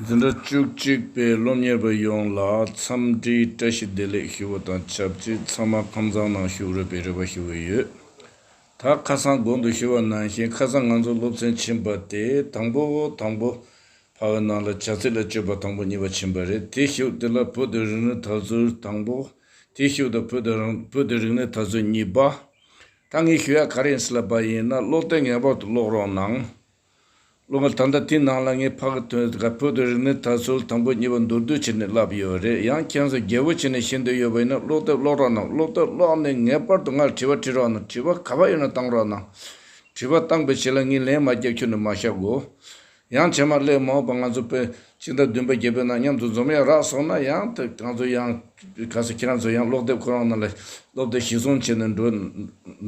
འཛིན་གྲྭ་བཅུ་གཅིག་པའི་སློབ་གཉེར་པ་ཡོངས་ལ་འཚམས་འདྲིའི་བཀྲ་ཤིས་བདེ་ལེགས་ཞུ་བ་དང་ཆབས་ཅིག་ཚང་མ་ཁང་བཟང་ནང་བཞུགས་རོལ་པའི་རེ་བ་ཞུ་འོས་ཡོད། ད་ཁ་སང་དགོང་དུ་ཞུ་བ་ནང་བཞིན་ཁ་སང་ང་ཚོ་སློབ་ཚན་ཕྱིན་པ་དེ་དང་པོ་དང་པོ་བར་བའི་ནང་ལ་བྱ་ཚིག་ལ་སྤྱོད་པ་དང་པོ་གཉིས་པ་ཕྱིན་པ་རེད་དེ་བཞུགས་དེ་ལ་བོད་དུ་རིག་གནས་དར་ཚུལ་དང་པོ་དེ་བཞུགས་དང་བོད་དུ་རིག་གནས་དར་ཚུལ་གཉིས་པ། ད་ངས་ཞུ་ཡ་ག་རེ་ཟེར་པ་ཡིན་ན་ཀློག་དེབ་ངེས་པར་དུ་ཀློག་རོགས་གནང། ཀློག་ངས་ད་ལྟ་དེའི་ནང་ལ་ངས་ཕ་གི་དོན་དེ་ག་བོད་དུ་རིག་གནས་དར་སྲོལ་དང་པོ་གཉིས་པ་མདོར་བསྡུས་བྱས་ནས་བསླབས་ཡོད་རེད་ཡང་ཁྱེད་ཚོ་རྒྱལ་པོ་བྱས་ནས་ཤི་འདོད་ཡོད་པ་ཡིན་ན་ཀློག་དེབ་ཀློག་རོགས་གནང་ཀློག་དེབ་ཀློག་ནས་ངེས་པར་དུ་ང་ལ་དྲི་བ་དྲི་རོགས་གནང་དྲི་བ་ག་པ་ཡོད་ན་བཏང་རོགས་གནང་དྲི་བ་བཏང་པའི་ཆེད་ལ་ངས་ལན་མ་རྒྱབ་ཁྱོད་ནི་མ་ཤ་གོ། ཡང་བྱེ་མ་སླེ་མོ་པ་ང་ཚོ་པོད་གཅིག་དང་བདུན་པ་བརྒྱད་པའི་ནང་མཉམ་དུ་འཛོམས་ཡ་རགས་སོང་ན་ཡང་ད་གང་ཚོ་ཡང་ག་ས་ཁྱེད་རང་ཚོ་ཡང་ཀློག་དེབ་ཁོ་རང་ནང་ལ་སློབ་དེ་ཞིག་བཟུང་བྱས་ནས་འགྲོ་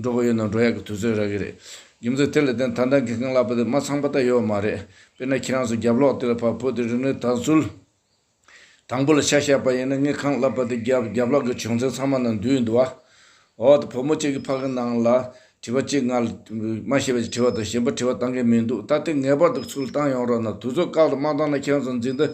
འགྲོ་གི་ཡོད་ན་འགྲོ་ཡག་གི་དུས་ཚོད་རག་གི་རེད་རྒྱུ་མཚན་དེ་ལ་བརྟེན་ད་ད་གི་ཁང་གླ་པ་དེ་མ་ཚང་པ་ད་ཡོད་མ་རེད་དཔེར་ན་ཁྱེད་རང་ཚོ་རྒྱབ་ལོག་དེ་ལ་བབ་བོད་དེ་རིག་གནས་དར་ཚུལ། དང་པོ་ལ་ཆ་བཞག་པ་ཡིན་ན་དངུལ་ཁང་བསླབ་པ་དེ་རྒྱབ་རྒྱབ་ལག་གི་བྱུང་ཚུལ་ཚང་མ་ནང་འདུས་ཡོད་འདུག་བ། འོ་ད་བུ་མོ་གཅིག་གི་ཕ་གི་ནང་ལ་དྲི་བ་གཅིག་ང་ལ་མ་ཤེས་པ་ཅིག་དྲི་བ་དང་གཞན་པ་དྲི་བ་བཏང་གི་མི་འདུག་ད་ལྟའི་ངེས་པར་དུ་ཚུར་བཏང་ཡོང་རོགས་གནང་དུས་ཚོད་བཀག་ཏུ་མ་བཏང་ན་ཁྱོད་ཚོ་འཛིན་དུ་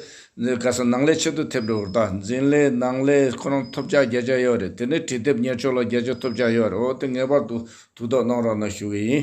ག་ས་ནང་ལས་ཆེད་དུ་ཐེབས་འགྲོ་བར་གདའ་འཛིན་ལས་ནང་ལས་ཁོ་རང་ཐོབ་ཆ་བརྒྱ་ཆ་ཡོད་རེད་དེ་ནས་དྲི་དེབ་གཉེར་ཕྱོགས་ལ་བརྒྱ་ཆ་ཐོབ་ཆ་ཡོད་རེད་འོ་ད་ངེས་པར་དུ་དུས་ཐོག་གནང་རོགས་གནང་ཞུ་གི་ཡིན་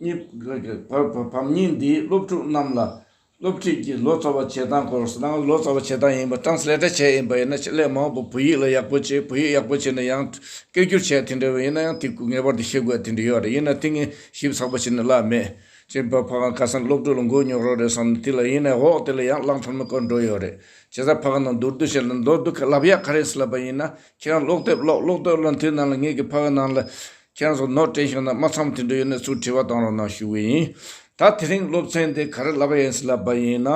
གཉིས། བམ་རྙིང་འདིས་སློབ་ཕྲུག་རྣམས་ལ་སློབ་ཁྲིད་ཀྱི་ལོ་ཙཱ་བ་བྱེད་སྟངས་སྐོར་གསུངས། ནང་ལ་ལོ་ཙཱ་བ་བྱེད་སྟངས་ཡིན་པ Translator བྱས་ཡིན་པ་ཡིན་ན་ཆེད་ལས་མང་པོ་བོད་ཡིག་ལ་ཡག་པོ་བྱེད་བོད་ཡིག་ཡག་པོ་བྱེད་ན་ཡང་སྐད་སྒྱུར་བྱས་དེ་འདྲ་བ་ཡིན་ན་ཡང་དེ་ངེས་པར་དུ་ཤེས་དགོས་དེ་འདྲ་ཡོད་རེད་ཡིན་ན་དེ་ངས་ཞིབ་ཚགས་པོ་བྱེད་ན་གླགས་མེད། ཅེས་པ་ཕ་གང་ཁ་སང་སློབ་ཕྲུག་ལ་མགོ་རྙོག་རོགས་རེད་བསམ་ནས་དེ་ལ་ཡིན་ནའི་འོག་དེ་ལ་ཡང་གླགས་མཐོར་མི་བཀོད་འགྲོ་ཡོད་རེད། བྱས་ཙང་ཕ་གང་ནང་མདོར་བསྡུ་བྱས་ལ་མདོར་བསྡུ་ག་ལབ་ཡག་ག་རེད་ཟེར་ལབ་པ་ཡིན་ན་ཁྱེད་རང་ལོག་དེབ་ཀློག་ཀློག་དོན་ལ་མཐུན་ནང་ལ་ངེད་ཀྱི་ཕ་གི་ནང་ལ་ཁྱེད་རང་ཚོ་ནོར་དྲན་བྱུང་ན་མ་ཚང་དུད་འགྲོ་ཡོད་ན་ཚུར་དྲི་བ་གཏང་རོགས་གནང་ཞུ་གི་ཡིན། ད་དེ་རིང་སློབ་ཚན་དེ་ག་རེ་ལབ་པ་ཡིན་ཟེར་ལབ་པ་ཡིན་ན།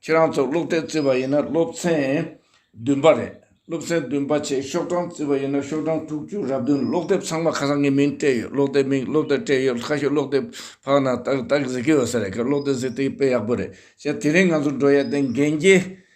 ཁྱེད་རང་ཚོ་ཀློག་དེབ་བརྩི་བ་ཡིན་ན་སློབ་ཚན་བདུན་པ་རེད། སློབ་ཚན་བདུན་པ་ཆེད་ཤོག་གྲངས་བརྩི་བ་ཡིན་ན་ཤོག་གྲངས་དྲུག་ཅུ་རབ་བདུན་ཀློག་དེབ་ཚང་མ་ཁ་སང་ངས་མིང་སྤྲད་ཡོད་ཀློག་དེབ་མིང་སློབ་དེབ་སྤྲད་ཡོད་ཁ་ཤོས་ཀློག་དེབ་ཕ་གི་ནང་ཏག་ཏག་གཟིགས་ཀྱི་ཡོད་ས་རེད་ཀློག་དེབ་གཟིགས་དེ་དཔེ་ཡག་པོ་རེད་ཞེ་དེ་རིང་ང་ཚོ་འགྲོ་ཡ་དེ་འགན་རྒྱལ་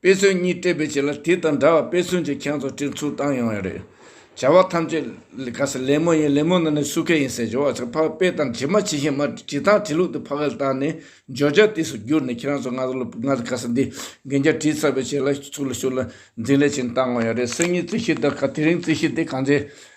དཔེ་མཚོན་གཉིས་སྤྲད་པའི་རྗེས་ལ་དེ་དང་འདྲ་བར་དཔེ་མཚོན་གྱི་ཁྱང་ཚོ་སྤྲིན་ཚུར་བཏང་ཡོང་བ་རེད། བྱ་བ་ཐམས་ཅད་ག་ས་ལེབ་མོ་ཡིན་ལེབ་མོ་ནང་ནས་སུ་ཁས་ཡིན་ཟེར་བྱ་བ་ཚོ་ཕ་དཔེ་དང་དྲི་མ་ཇི་བཞིན་མ་དྲི་དང་དྲི་ལུགས་དེ་ཕ་གིར་བཏང་ནས་སྦྱོར་བྱ་དུས་སུ་བསྒྱུར་ནས་ཁྱེད་རང་ཚོ་ང་ཚོ་ལ་ང་ཚོ་ག་ས་འདི་རྒན་རྒྱ་བྲིས་ཚར་བའི་རྗེས་ལ་ཚུར་ལ་ཤུར་ལ་འཛིན་ལས་ཅན་བཏང་ཡོང་བ་རེད་སེམས་ཉིད་རྩིས་གཞི་དང་ག་དེ་རིང་རྩིས་གཞི་དེ་གང་ཚེ་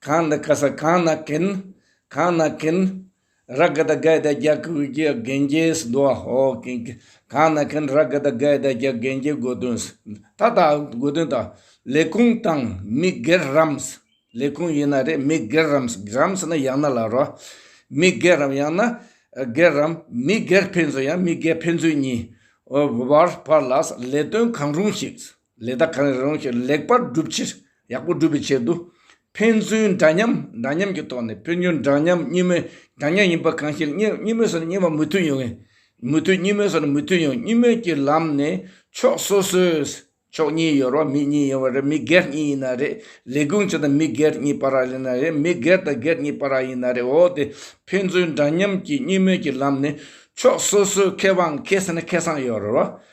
གང་འདི་ཀ་ས་གང་ན་གིན། གང་ན་གིན། ར་གི་ད་གའི་ད་རྒྱ་གུ་གུ་གི་གན་རྒྱའི་ས་འདུ་བ་ཧོ་གིན་གིན། གང་ན་གིན་ར་གི་ད་གའི་ད་རྒྱ་གན་རྒྱའི་དགོས་དོན་ས། ད་ད་དགོས་དོན་ད། ལས་ཁུངས་དང་མི་སྒེར་རམ་ས། ལས་ཁུངས་ཡིན་ན་རེད་མི་སྒེར་རམ་ས་རམ་ས་ནི་ཡང་ན་ལ་རོ། མི་སྒེར་རམ་ཡང་ན། སྒེར་རམ་མི་སྒེར་ཕན་ཚུན་ཡང་མི་སྒེར་ཕན་ཚུན་གཉིས། བར་བར་ལ་ས་ལས་དོན་གང་རུང་ཞིག་ས། ལས་དག་གང་རིགས་རང་ཞིག་ལེགས་པར་སྒྲུབ་ཕྱིར། ཡག་པོ་སྒྲུབ་པའི་ཆེད་དུ། ཕན་ཚུན་འདྲ་མཉམ་འདྲ་མཉམ་གྱི་ཐོག་ནས་ཕན་ཚུན་འདྲ་མཉམ་གཉིས་མོས་འདྲ་མཉམ་ཡིན་པ་གང་ཞིག་གཉིས་མོས་སུ་གཉིས་པ་མོས་མཐུན་ཡོང། མོས་མཐུན་གཉིས་མོས་སུ་མོས་མཐུན་ཡོང་གཉིས་མོས་ཀྱི་ལམ་ནས་ཕྱོགས་སོ་སོས་ཕྱོགས་གཉིས་ཡོད་རོགས་མི་གཉིས་ཡོད་རེད་མི་སྒེར་གཉིས་ཡིན་ན་རེད་ལས་ཁུངས་ཆེ་དང་མི་སྒེར་གཉིས་པར་རག་ཡིན་ན་རེད་མི་སྒེར་དང་སྒེར་གཉིས་པར་རག་ཡིན་ན་རེད་འོ་དེ་ཕན་ཚུན་འདྲ་མཉམ་གྱི་གཉིས་མོས་ཀྱི་ལམ་ནས་ཕྱོགས་སོ་སོས་ཁེ་དབང་ཁེ་སེམས་ཁེ་བཟང་ཡོད་རོགས་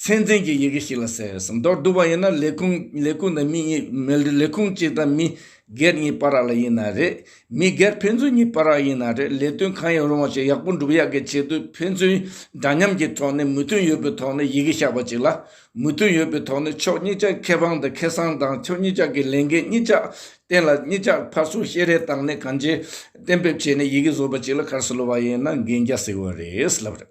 ཚན་ཚན་གྱི་ཡི་གེ་ཞིག་ལ་ཟེར་ཟེར་མདོར་བསྡུ་བ་ཡིན་ན་ལས་ཁུངས་ལས་ཁུངས་དང་མི་གཉིས། ལས་ཁུངས་གཅིག་དང་མི་སྒེར་གཉིས་སྤ་རགས་ལ་ཡིན་ན་རེད། མི་སྒེར་ཕན་ཚུན་གཉིས་སྤ་རགས་ཡིན་ན་རེད་ལས་དོན་གང་ཡིན་རུང་བ་ཞིག་ཡག་པོ་འགྲུབ་ཡག་གི་ཆེད་དུ་ཕན་ཚུན་འདྲ་མཉམ་གྱི་ཐོག་ནས་མོས་མཐུན་ཡོད་པའི་ཐོག་ནས་ཡི་གེ་བཞག་པ་ཅིག་ལ། མོས་མཐུན་ཡོད་པའི་ཐོག་ནས་ཕྱོགས་གཉིས་ཀྱ་ཁེ་ཕང་དང་ཁེ་སང་དང་ཕྱོགས་གཉིས་ཀྱ་གི་ལས་འགན་གཉིས་ཀྱ་བརྟེན་ལ་གཉིས་ཀྱ་ཕར་སུང་ཤེས་རེ་བཏང་ནས་གང་ཅི་གཏན་འབེབས་བྱས་ནས་ཡི་གེ་བཟོ་བ་ཅིག་ལ་གར་སོ་ལོ་བ་ཡིན་ན་འགན་རྒྱ་ཟེར་བ་རེད་ལབ་རེད།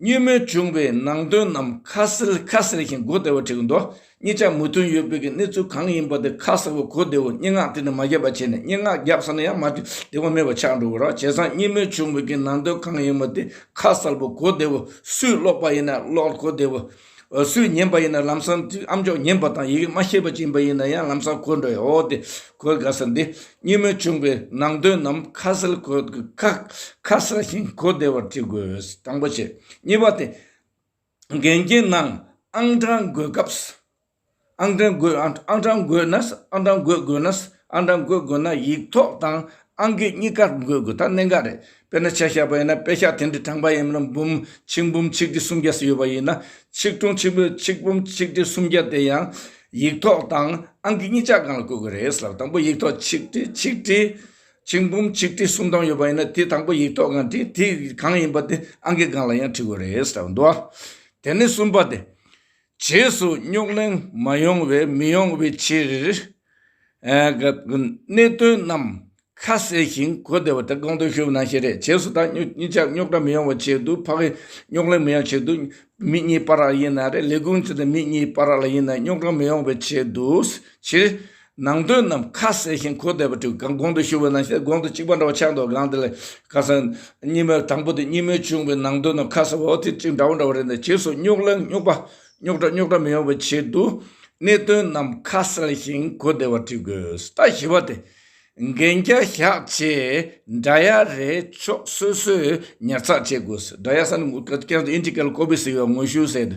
བརྙོད་མོལ་བྱུང་བའི་ནང་དོན་རྣམས་ཁ་གསལ་ཁ་གསལ་ཞིང་གོ་བདེ་བ་བྲིས་འདུག་གཉིས་ཆ་མོས་མཐུན་ཡོད་དཔེ་གྱི་གནས་ཚུལ་གང་ཡིན་པ་དེ་ཁ་གསལ་བོ་གོ་བདེ་བོ་སྙན་ངག་དེ་ནི་མ་བརྒྱབ་པ་བྱས་ནས་སྙན་ངག་བརྒྱབ་ས་ན་ཡང་མ་བྲིས་བདེ་བ་མེད་པ་ཆགས་འགྲོ་གི་རོགས་བྱས་ཙང་བརྙོད་མོལ་བྱུང་བའི་གི་ནང་དོན་གང་ཡིན་པ་དེ་ཁ་གསལ་བོ་གོ་བདེ་བོ་སུས་ཀློག་པ་ཡིན་ན་ཀློག་གོ་བདེ་བོ། འོ་སུས་ཉན་པ་ཡིན་ན་ལམ་སང་དུས་ཨམ་ཅོག་ཉན་པ་དང་ཡི་གེ་མ་ཤེས་པ་བྱིན་པ་ཡིན་ན་ཡང་ལམ་སང་གོས་འགྲོ་ཡོད་འོ་དེ་གོས་དགའ་ས་འདི་གཉིས་མོས་ཆུང་པའི་ནང་དོན་ནམ་ཁ་གསལ་གོས་དགུ་ཁ་ཁ་གསལ་ཞིང་གོ་བདེ་བར་བྲི་དགོས་དང་པོ་བྱས་གཉིས་པ་དེ་འགན་རྐྱེན་ནང་ཨང་གྲངས་འགོད་སྐབས་ཨང་གྲངས་བགོས། ཨང་གྲངས་བགོས་ན། ཨང་གྲངས་བགོས་དགོས་ན། ཨང་གྲངས་བགོས་དགོས་ན་ཡིག་ཐོག་དང་ཨང་ཀི་གཉིས་ཀ་བགོས་དགོས་ད་གནད་འགག་རེད། དཔེར་ན་ཆ་ཤས་པ་ཡིན་ན་དཔེ་ཤག་དེ་འདྲའི་གྲངས་པ་ཡིན་མིན་ན་འབུམ་ཆིག་འབུམ་ཆིག་ཁྲི་སུམ་བརྒྱ་སུ་ཡོད་པ་ཡིན་ན་ཆིག་ཁྲུང་ཆིག་འབུམ་ཆིག་འབུམ་ཆིག་ཁྲི་སུམ་བརྒྱ་དེ་ཡང་ཡིག་ཐོག་དང་ཨང་ཀི་གཉིས་ཆ་གང་ལ་བགོས་དགོས་རེད་ཟེར་ལ་དང་པོ་ཡིག་ཐོག་ཆིག་ཁྲི་ཆིག་ཁྲི། ཆིག་འབུམ་ཆིག་ཁྲི་སུམ་སྟོང་ཡོད་པ་ཡིན་ན་དེ་དང་པོ་ཡིག་ཐོག་གང་དེ་དེ་གང་ཡིན་པ་དེ་ཨང་ཀི་གང་ལ་ཡང་འཁྲི་དགོས་རེད་ཟེར་བ་འདུག་ཨ། དེ་ནས་གསུམ་པ་དེ། རྗེས་སུ་རྙོག་གླེང་མ་ཡོང་བའི་མི་ཡོང་བའི་ཕྱིར། གནད་དོན་རྣམས་ཁ་གསལ་ཞིང་གོ་བདེ་བ་དེ་དགོངས་དོན་ཞུ་བ་ནང་བཞིན་རེད་རྗེས་སུ་ད་གཉིས་ཀྱང་རྙོག་དྲ་མི་ཡོང་བ་བྱས་འདུག་ཕ་གིས་རྙོག་གླེང་མི་ཡོང་བྱས་འདུག་མི་གཉིས་པར་རག་ཡིན་ན་རེད་ལས་ཁུངས་ཚུད་ནས་མི་གཉིས་པར་རག་ལ་ཡིན་ན་རྙོག་དྲ་མི་ཡོང་བའི་ཆེད་དུ། ནང་དོན་རྣམས་ཁ་གསལ་ཞིང་གོ་བདེ་བ་བྲིས་གང་གོང་དུ་ཞུ་བའི་ནང་བཤད་གོང་དུ་གཅིག་པ་འདྲ་བ་ཆགས་འདུག་གང་དེ་ལས་ཁ་གསལ། གཉིས་པ་དང་པོ་དེ་གཉིས་མོས་བྱུང་བའི་ནང་དོན་རྣམས་ཁ་གསལ་བའོ་དེ་གཅིག་འདྲ་བོ་འདྲ་བ་རེད་འདི་བྱེས་སུ་རྙོག་གླེང་རྙོག་པ་རྙོག་དྲ་རྙོག་དྲ་མི་ཡོང་བའི་ཆེད་དུ་གནད་དོན་རྣམས་ཁ་གསལ་ཞིང་གོ་བདེ་བ་བྲིས་དགོས་ད་བཞི་བ་དེ་འགན་བརྒྱ་བཞག་ཆེད་འདྲ་ཡ་རེ་ཕྱོགས་སོ་སོས་ཉར་ཚགས་བྱེད་དགོས་སི་འདྲ་ཡ་ས་ནས་ངོ་སྐལ་ཀན་སུ་ཨིན་ཅི་ཀལ་ཀོ་བི་སི་ཡོ་ངོ་ཤུ་སེ་དུ་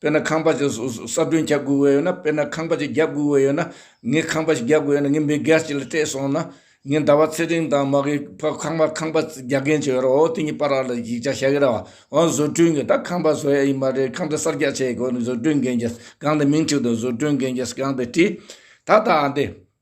དཔེར་ན་ཁང་པ་ཞིག་གསར་སྐྲུན་བྱ་དགོས་ཡོད་ན་དཔེར་ན་ཁང་པ་ཞིག་རྒྱག་དགོས་ཡོད་ན། ངས་ཁང་པ་ཞིག་རྒྱག་དགོས་ཡོད་ན་ངས་མི་སྒེར་ཞིག་ལ་སྤྲད་སོང་ན། ངས་ཟླ་བ་ཚེ་རིང་དང་མ་གི་ཕ་ཁང་པ་ཁང་པ་རྒྱག་མཁན་བྱས་ཡོད་ར་བའོ་དེ་གཉིས་པར་ར་ལ་ཡིག་ཆ་བྱ་གི་ར་བའོ་བཟོ་སྐྲུན་གྱི་ད་ཁང་པ་བཟོ་ཡ་ཡི་མ་རེད་ཁང་པ་གསར་རྒྱག་བྱེད་དགོས་ན་བཟོ་སྐྲུན་མཁན་གྱིས་གང་དེ་མིང་ཁྲིད་དོ་བཟོ་སྐྲུན་མཁན་གྱིས་གང་དེ་བྲིས། ད་ད་འདི།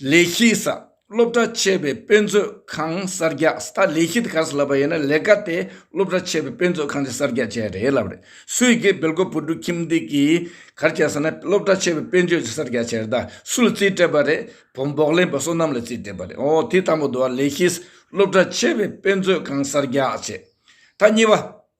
ལས་གཞི་གསར་སློབ་གྲྭ་ཆེ་བའི་དཔེ་མཛོད་ཁང་གསར་རྒྱགས་ད་ལས་གཞི་དེ་ག་སོ་ལབ་པ་ཡིན་ན་ལས་ཀ་དེ་སློབ་གྲྭ་ཆེ་བའི་དཔེ་མཛོད་ཁང་གི་གསར་རྒྱགས་བྱས་རེད་ལབ་རེད་སུས་དགེ་འབེལ་གོ་བུ་འབྲུག་ཁྱིམ་འདི་གིས་གར་བྱས་ཟེར་ན་སློབ་གྲྭ་ཆེ་བའི་དཔེ་མཛོད་ཀྱི་གསར་རྒྱགས་བྱས་རེད་ད་སུ་ལ་རྩིས་སྤྲད་པ་རེད་བོ་འབོག་ལེན་པ་བསོད་ནམས་ལ་རྩིས་སྤྲད་པ་རེད་ཨོ་དེ་ལྟ་མོ་འདུག་ལས་གཞི་སློབ་གྲྭ་ཆེ་བའི་དཔེ་མཛོད་ཁང་གསར་རྒྱགས་བྱས་ད་གཉིས་པ།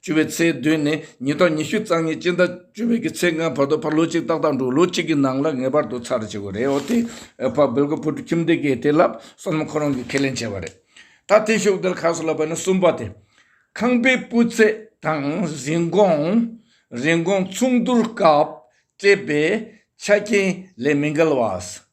བཅུ་བའི་ཚེས་བདུན་ནས་ཉིན་ཐོག་ཉི་ཤུ་རྩ་ལྔའི་སྤྱི་ཟླ་བཅུ་བའི་ཚེས་ལྔའི་བར་དུ་ཕར་ལོ་གཅིག་ཏག་ཏག་འགྲོ་ལོ་གཅིག་གི་ནང་ལ་ངེས་པར་དུ་ཚར་བཅད་དགོས་རེད་འོ་དེ་ཕར་སྦེལ་ཀོབ་བོད་ཕྲུག་ཁྱིམ་སྡེ་གའི་དེ་ལབ་སོང་ན་ཁོ་རང་གིས་ཁས་ལེན་བྱས་པ་རེད། ད་ཐེངས་ཤོག་དལ་ཁ་གསོ་ལ་བབས་ནས་གསུམ་པ་དེ། ཁང་པའི་སྤུས་ཚད་དང་རིན་གོང། རིན་གོང་ཚོང་བསྡུར་སྐབས་སྤྲད་པའི་ཆ་རྐྱེན་ལས་མི་འགལ་བ།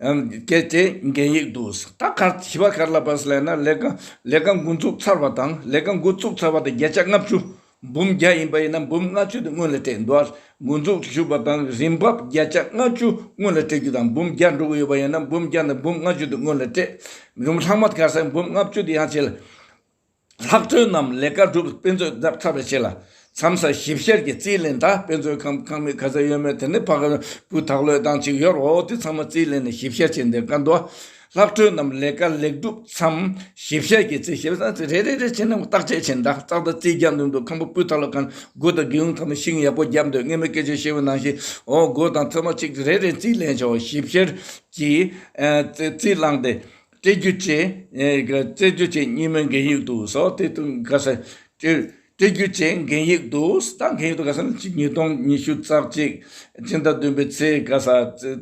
གལ་ཏེ་འགན་ཡིག་ཏུ་ད་གར་བྱིས་པ་གར་ལ་བར་སླེབས་ན་ལས་ཀ་ལས་ཀ་འགོ་འཛུགས་ཚར་བ་དང་ལས་ཀ་འགོ་བཙུགས་ཚར་བ་དང་བརྒྱད་ཆ་ལྔ་བཅུ་འབུམ་བརྒྱ་ཡིན་པ་ཡིན་ན་འབུམ་ལྔ་བཅུ་དེ་སྔོན་ལ་སྤྲད་འགྲོ་བར་འགོ་འཛུགས་ཞུས་པ་དང་རིན་འབབ་བརྒྱད་ཆ་ལྔ་བཅུ་སྔོན་ལ་སྤྲད་རྒྱུ་དང་འབུམ་བརྒྱ་འགྲོ་གི་ཡོད་པ་ཡིན་ན་འབུམ་བརྒྱ་དང་འབུམ་ལྔ་བཅུ་དེ་སྔོན་ལ་སྤྲད་རུང་ལྷག་མ་གར་སའི་འབུམ་ལྔ་བཅུ་དེ་ཡང་བྱས་ལ། ལྷག་དོན་རྣམས་ལས་ཀ་སྒྲུབ་དཔེ་མཛོད་རྒྱབ་ཚགས་པའི་ཆེད་ལ་མཚམས་སར་ཞིབ་བཤེར་གྱིས་རྩིས་ལེན་དང་དཔེ་མཛོད་ཁང་ཁང་མིག་ག་ཚད་ཡོད་མེད་དེ་ནི་ཕ་གི་བུ་དག་བློས་བཏང་གཅིག་ཡོད་རོགས་དེ་ཚང་མ་རྩིས་ལེན་ནས་ཞིབ་བཤེར་བྱས་འདིར་བཀའ་འདུག་ལྷག་དོན་རྣམས་ལས་ཀ་ལེགས་སྒྲུབ་མཚམས་ཞིབ་བཤེར་གྱིས་རྩིས་ཞིབ་རེ་རེ་རེ་རེ་བྱས་ནས་བརྟག་དཔྱད་བྱས་འདྲ་ཙག་ཏུ་རྩིས་རྒྱག་འདོད་འདུག་ཁང་བུ་སྤུས་དག་ལ་ཁང་སྒོ་དང་སྒེའུ་ཁང་ནི་ཤིང་ཡག་པོ་བརྒྱབ་འདུག་སྔས་མོ་སྐད་ཆ་ཤེས་བོ་ནང་ཤིང་འོག་སྒོ་དང་ཐོད་མ་གཅིག་རེ་རེ་རྩིས་ལེན་བྱའོ་ཞིབ་བཤེར་གྱིས་རྩིས་བླངས་ཏེ། བཅས་རྒྱུ་བཅས་བཅས་རྒྱུ་བཅས་གཉིས་མེད་འགལ་ཡིག་ཏུ་སོ་སྟེ་དུ་ག་ས་བཅས་བཅས་རྒྱུ་བཅས་འགལ་ཡིག་ཏུ་ད་འགལ་ཡིག་ཏུ་ག་ས་ནི་ཉིས་སྟོང་ཉི་ཤུ་རྩ་གཅིག་སྤྱི་ཟླ་བདུན་པའི་ཚེས་ག་ས་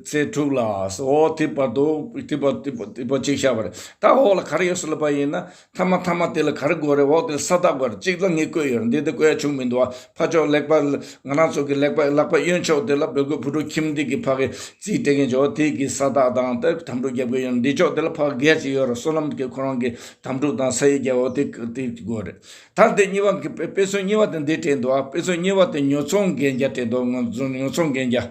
ཚེས་དྲུག་ལ་སོ་དེ་བར་དུ་དེ་བར་དེ་བར་གཅིག་བཞག་པ་རེད་ད་འོག་ལ་ག་རེ་ཡོད་སྲིད་ལབ་པ་ཡིན་ན་མཐའ་མ་ཐ་མ་དེ་ལ་ག་རེ་དགོས་རེད་འོག་དེ་ས་རྟགས་དགོས་རེད་གཅིག་ལ་ངས་བཀོད་ཡོད་རེད་འདི་དེ་བཀོད་ཡ་བྱུང་མི་འདུག་བ་ཕ་ཅོག་ལེགས་པ་ང་རང་ཚོ་གི་ལེགས་པ་ལག་པ་གཡོན་ཕྱོགས་དེ་ལ་བོད་གོས་བུ་ཕྲུག་ཁྱིམ་སྡེ་གི་ཕ་གི་རྩིས་སྤྲད་མཁན་ཅོག་དེ་གི་ས་རྟགས་དང་དེ་དམ་གྲུག་རྒྱབ་གོས་ཡོད་རེད་འདི་ཕྱོགས་དེ་ལ་ཕ་གི་སྒལ་གཅིག་ཡོད་རེད་བསོད་ནམས་གི་ཁོ་རང་གི་དམ་གྲུག་དང་ས་ཡི་རྒྱལ་བོ་དེ་གི་དེ་དགོས་རེད་ད་དེ་གཉིས་པ་དཔེ་མཚོན་གཉིས་པ་དེ་འདི་སྤྲད་འདུག་བ་དཔེ་མཚོན་གཉིས་པ་དེ་ཉོ་ཚོང་གན་རྒྱ་སྤྲད་འདུག་ཉོ་ཚོང་གན་རྒྱ།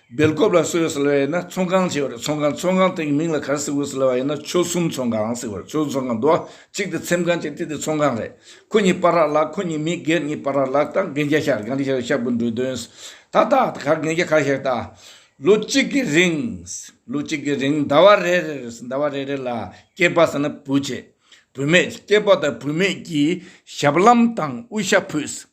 སྦེལ་ཀོབ་ལ་སིལ་བུ་ཟེར་བ་ཡིན་ན་ཚོང་ཁང་ཅེས་པ་རེད་ཚོང་ཁང་ཚོང་ཁང་དེ་གི་མིང་ལ་གར་སིལ་བུ་ཟེར་བ་ཡིན་ན་ཆོལ་གསུམ་ཚོང་ཁང་ཟེར་བ་རེད་ཆོལ་གསུམ་ཚོང་ཁང་འདུག་ཨ་གཅིག་དེ་ཚེམས་ཁང་གཅིག་དེ་དེ་ཚོང་ཁང་རེད་ཁོ་གཉིས་སྤ་རག་ལགས་ཁོ་གཉིས་མི་སྒེར་གཉིས་སྤ་རག་ལགས་ད་རྒན་རྒྱ་ཤག་གང་གི་ཤག་ཤག་པོ་འགྲོ་དོན་ད་ད་ད་གར་རྒན་རྒྱ་གར་ཤག་ད་ལོ་གཅིག་གི་རིང་ལོ་གཅིག་གི་རིང་ཟླ་བ་རེ་རེ་རེ་ཟླ་བ་རེ་རེ་ལ་སྐྱེས་པ་ཟེར་ན་བུ་བྱེད་བུ་མེད་སྐྱེས་པ་དང་བུ་མེད་ཀྱིས་ཞབས་ལམ་དང་དབུ་ཞྭ་ཕུད་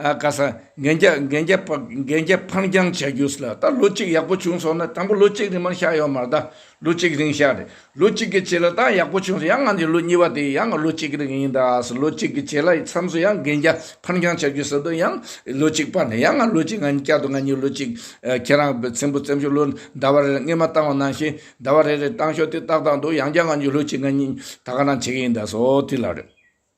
ཀ་ས་འགན་རྒྱ་འཕངས་རྐྱང་བྱ་རྒྱུ་ལ་ད་ལོ་གཅིག་ཡག་པོ་བྱུང་སོང་ན་དང་པོ་ལོ་གཅིག་རིང་མར་ཤ་ཡོང་མར་ད་ལོ་གཅིག་རིང་ཤ་རེད་ལོ་གཅིག་གི་བྱས་ལ་ད་ཡག་པོ་བྱུང་སོང་ཡང་ང་ཚོ་ལོ་གཉིས་པ་དེ་ཡང་ལོ་གཅིག་རིང་ཡིན་ད་ལོ་གཅིག་གི་བྱས་ལ་མཚམས་སུ་ཡང་འགན་རྒྱ་འཕངས་རྐྱང་བྱ་རྒྱུ་ཟེར་དུས་ཡང་ལོ་གཅིག་སྤར་ནས་ཡང་ང་ལོ་གཅིག་ང་གཉིས་བསྐྱར་དུ་ང་གཉིས་ལོ་གཅིག་ཁྱེད་རང་བཙན་པོ་བཙན་བྱོལ་ལོ་ཟླ་བ་རེ་རེ་སྔས་མ་བཏང་བ་ནང་བཞིན་ཟླ་བ་རེ་རེ་བཏང་ཤོག་དེ་ཏག་ཏག་འདུག་ཡང་བསྐྱར་ང་གཉིས་ལོ་གཅིག་ང་གཉིས་ད་ག་རང་བྱེད་ཀྱི་ཡིན་ད་སོ་དེ་ལ་རེད།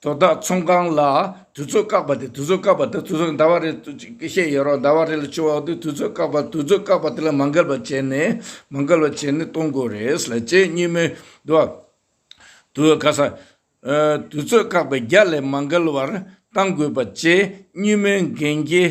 དོ་བདག་ཚོང་ཁང་ལ་དུས་ཚོད་བཀག་པ་དེ་དུས་ཚོད་བཀག་པ་དེ་དུས་ཚོད་ཟླ་བ་རེ་བཤད་ཡོད་རོགས་ཟླ་བ་རེ་ལ་ཆུ་བ་དེ་དུས་ཚོད་བཀག་པ་དུས་ཚོད་བཀག་པ་དེ་ལ་མ་འགལ་བ་བྱས་ནས་མ་འགལ་བ་བྱས་ནས་གཏོང་དགོས་རེད་ལ་བྱས་གཉིས་མེད་དུ་དུས་ག་ས་དུས་ཚོད་བཀག་པའི་རྒྱ་ལས་མ་འགལ་བར་གཏང་དགོས་པ་བྱས་གཉིས་མེད་འགན་འཁྱེར་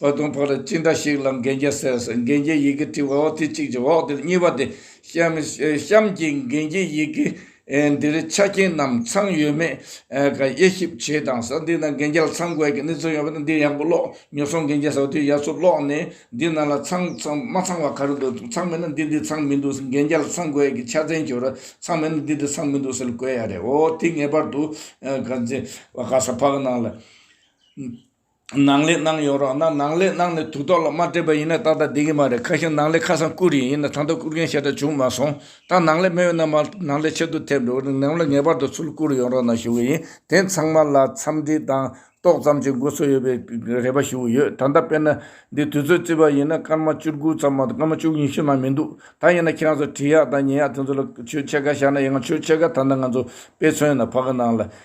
ད་དུང་ཕོ་ར་ཅི་འདྲ་ཞིག་ལ་འགན་རྒྱལ་ཟེར་ཟེར་འགན་རྒྱལ་ཡི་གེ་བྲིས་བ་འོ་དེ་གཅིག་གཅིག་འོག་དེ་ལ་གཉིས་པ་དེ་གཤམ་གྱི་འགན་རྒྱལ་ཡི་གེ་འདིར་ཆ་རྐྱེན་རྣམས་ཚང་ཡོད་མེད་ག་དབྱེ་ཞིབ་བྱེད་དང་ཟེར་འདི་ན་འགན་རྒྱལ་ལ་ཚང་དགོས་ཀྱི་གནས་ཚུལ་ཡོད་པ་དེ་འདིར་ཡག་པོ་ཀློག་ཉོ་སོང་འགན་རྒྱལ་ཟེར་བ་དེ་ཡ་ཚོ་ཀློག་ནས་འདི་རྣམས་ལ་ཚང་མ་ཚང་བ་ག་རེ་འདུག་ཚང་མེད་ན་འདི་འདི་ཚང་མི་འདུག་ཟེར་འགན་རྒྱལ་ལ་ཚང་དགོས་ཀྱི་ཆ་ཚན་ཞུ་རོགས་ཚང་མེད་ན་འདི་འདི་ཚང་མི་འདུག་ཟེར་ལ་བཀོད་ཡ་རེད་འོ་དེ་ངེས་པར་དུ་ག་ས་ཕག་ནང་ལ། ནང་ལས་གནང་ཡོང་རོགས་གནང་ནང་ལས་གནང་ནས་དུག་ཐོག་ལ་མ་སྤྲད་པ་ཡིན་ན་ཏག་ཏག་བསྡད་ཀྱི་མ་རེད་ཁ་ཤས་ནང་ལས་ཁ་སང་བསྐུར་ཡིན་ཡིན་ན་ད་ལྟ་བསྐུར་མཁན་ཞེ་དྲག་བྱུང་མ་སོང་ད་ནང་ལས་མེད་ཡོད་ན་མ་ནང་ལས་ཆེད་དུ་ཐེབས་འགྲོ་ནང་ལས་ངེས་པར་དུ་ཚུར་བསྐུར་ཡོང་རོགས་གནང་ཞུ་གི་ཡིན་དེ་ཚང་མ་ལ་འཚམས་འདྲི་དང་ཏོག་ཙམ་གྱི་འགོ་ཚུགས་ཡོད་པའི་རེ་བ་ཞུ་གི་ཡོད་ད་ལྟ་དཔེར་ན་འདི་དུས་ཚོད་བརྩི་བ་ཡིན་ན་སྐར་མ་བཅུ་དགུ་ཙམ་མ་གཏོགས་སྐར་མ་བཅུ་ཉི་ཤུ་ན་མི་འདུག་ད་ཡིན་ན་ཁྱེད་རང་ཚོ་དྲི་ཡག་དང་ཉན་ཡག་དེ་ཚོ་ལ་ཆོས་ཕྱེད་ཀ་བཞག་ན་ཡག་ཆོས་ཕྱེད་ཀ་ད་ལྟ་ང་ཚོ་དཔེ་མཚོན་ན་ཕ་གི་ནང་ལ